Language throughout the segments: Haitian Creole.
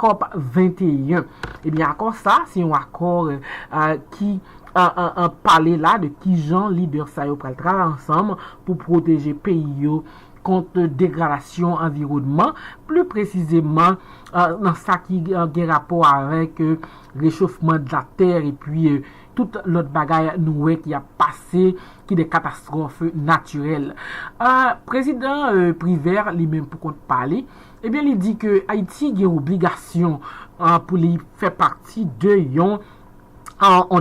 Cop 21. Ebyen akò sa, se yon akò ki pale la de kijan lidè sa yo pral travay ansanm pou pwoteje peyi yo kont degradasyon anviwònman, pli presizeman nan sa ki gen rapò avèk rechofman de la tè epi tout lòt bagay nou wè ki ap pase ki de katastwòf natirèl. Prezidan Privert li menm pou kont pa li, Ebyen li di ke Ayiti gen obligasyon pou li fè pati de yon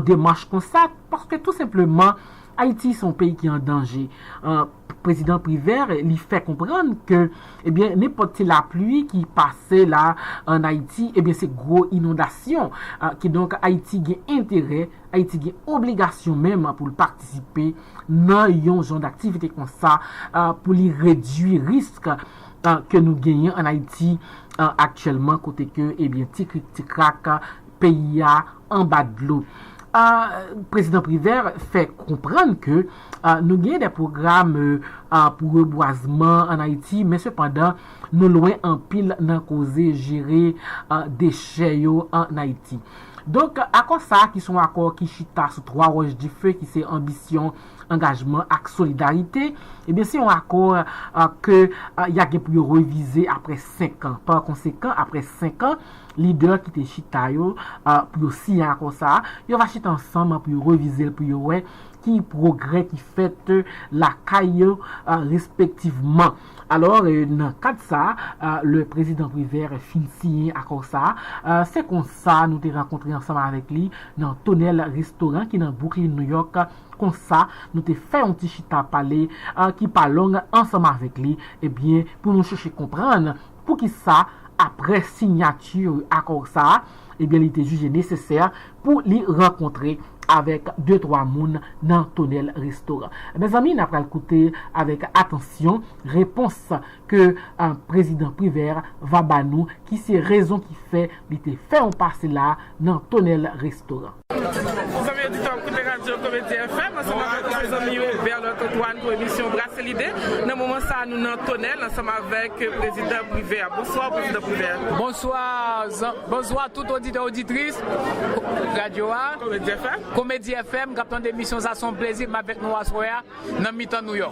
demach konsa paske tou senpleman Ayiti se yon peyi ki an danje. Prezidan Privert li fè konprann ke ebyen nenpòt ti lapli ki pase la an Ayiti ebyen se gwo inondasyon. Kidonk Ayiti gen enterè, Ayiti gen obligasyon menm pou l patisipe nan yon jan daktivite konsa pou li redui risk. ke nou genyen an Ayiti aktyèlman kote ke ebyen ti krik ti krak peyi a anba dlo. Prezidan Privert fè konprann ke nou genyen de pwogram pou rebwazman an Ayiti men sepandan nou lwen anpil nan koze jere dechè yo an Ayiti. Donk akò sa ki son akò ki chita sou 3 wòch dife ki se anbisyon, angajman ak solidarite, ebyen se yon akò ke ya gen pou yo revize apre 5 an. Pa konsekan, apre 5 an, lidè ki te chita yo pou yo siyen akò sa a, yo va chita ansanm pou yo revize l pou yo wè ki pwogrè ki fèt lakay yo respektivman. Alò, nan kad sa a, lè Prezidan Privert fin siyen akò sa a, se kon sa nou te rankontre ansanm avèk li nan Tonèl Restoran ki nan Bwouklin, Nouyòk. Kon sa, nou te fè yon ti chita pale ki pa long ansanm avèk li, ebyen, pou nou chèche konprann pou ki sa, apre siyati akò sa a, ebyen li te jije nesesè pou li rankontre avèk de twa moun nan tonèl restoran. Mezanmi n a pral koute avèk atansyon repons ke prezidan Privert va ba nou ki se rezon ki fè li te fè yon pase la nan tonèl restoran. Zanmi oditè ou koute radyo Komedi FM ansanm avèk ou se zanmi ou Berlot Antoine pou emisyon Brase Lide. Nan moman sa a nou nan Tonèl ansanm avèk Prezidan Privè. Bonswa ou Prezidan Privè. Bonswa zanm bonswa tout oditè oditris radyo a Komedi FM kap tande emisyon sa a se yon plezi m avèk nou aswè a. nan mitan nou yo.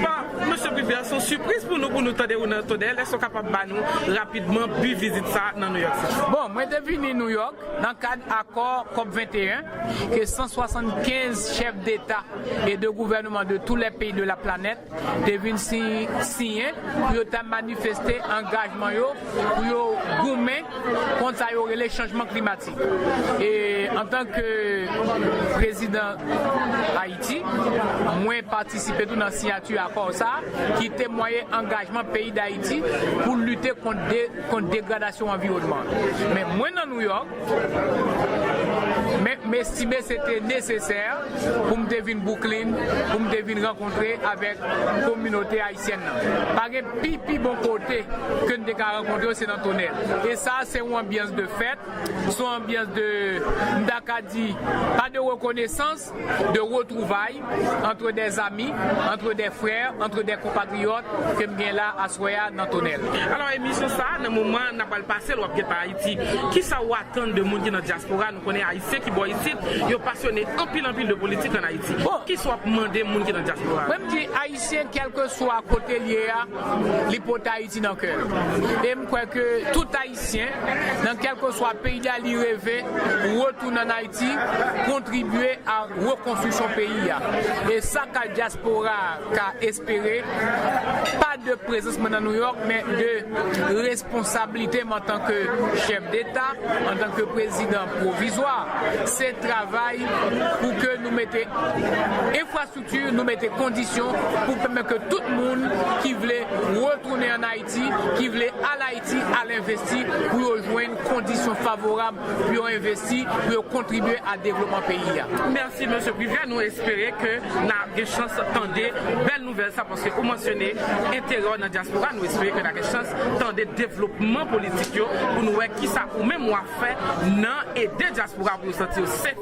Bon Mesye Privert son sipriz pou nou pou nou tande ou nan Tonnè lès ou kapab ba nou rapidman bi vizit sa nan New York City. Bon, mwen te vini New York nan kad akò Cop 21 ke 175 chèf deta e de gouvèneman de tou lè peyi de la planèt te vin siyen pou yo ta manifeste angajman yo pou yo goumen kont sa yo rele chanjman klimatik e antan ke prezidan Ayiti mwen patisipe tou nan siyati akò sa ki temwaye angajman peyi Dayiti pou lite kont degradasyon anviwònman an men mwen nan Nouyòk m estime se te nesesè pou m te vin Bwouklin pou m te vin rankontre avèk kominote Syen nan. Pa gen pi pi bon kote ke n te ka rankontre yo se nan Tonèl. E sa a se yon anbyans de fèt, se yon anbyans de, m ta ka di, pa de rekonesans, de retwouvay antre dè zami, antre dè frè, antre dè konpatriyòt ke m gen la aswè a nan Tonèl. Alò emisyon sa a nan moman n ap pral pase l w ap gen pa Ayiti. Kisa ou atann de moun ki nan dyaspora? Nou konnen Ayisyen ki bò isit yo pasyone anpil anpil de politik an Ayiti. Kisa w ap mande moun ki nan dyaspora? Ayisyen kèlkeswa kote l ye a, li pote Ayiti nan kè l. E m kwè ke tout Ayisyen, nan kèlkeswa peyi a li reve, retounen ann Ayiti, kontribye a rekonstriksyon peyi a. E sa ka dyaspora a ka espere, pa de prezans mwen nan Nouyòk, men de responsablite m antanke chèf deta, antanke prezidan pwovizwa, se travay pou ke nou mete enfrastrikti. Tir nou mete kondisyon pou pèmèt ke tout moun ki vle retounen an Ayiti, ki vle al Ayiti al envesti pou yo jwenn kondisyon favorab pou yo envesti, pou yo kontribye a devlopman peyi a. Mèsi Mesye Privert, nou espere ke n a gen chans tande bèl nouvèl sa paske ou mansyone enterè w nan dyaspora, nou espere ke n a gen chans tande devlopman politik yo pou nou wè kisa ou menm w a fè nan ede dyaspora pou yo santi yo sef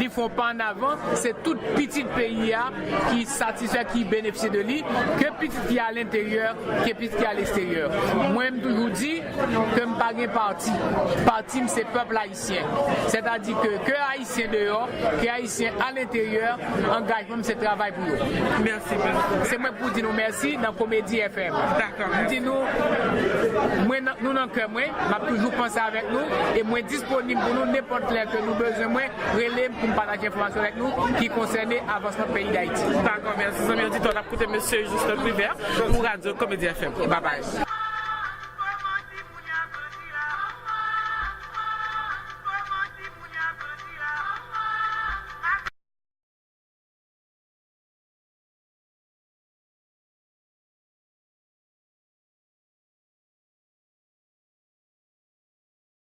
Li fon pa an avan, se tout pitit peyi a ki satisfè, ki benefisye de li, ke pitit ki a lenteryè, ke pitit ki a lesterye. Mwen m toujou di ke m pa gen pati. Pati m se pèpl ayisyen. Sètadi ke, ke ayisyen deyò, ke ayisyen a lenteryè, angajman m se travay pou yo. Mèsi beaucoup. Se mwen k pou di nou mèsi nan Komedi FM. Dakò, mèsi. M di nou, mwen nan, nou nan kè mwen, m ap toujou panse avèk nou e mwen dis. Disponib pou nou nenpòt lè ke nou bezwen mwen, rele m pou m pataje enfòmasyon avèk nou ki konsène avansman peyi Dayiti. Dakò mèsi zanmi oditè w ap koute Mesye Juste Privert pou Radio Comédie FM. Babay.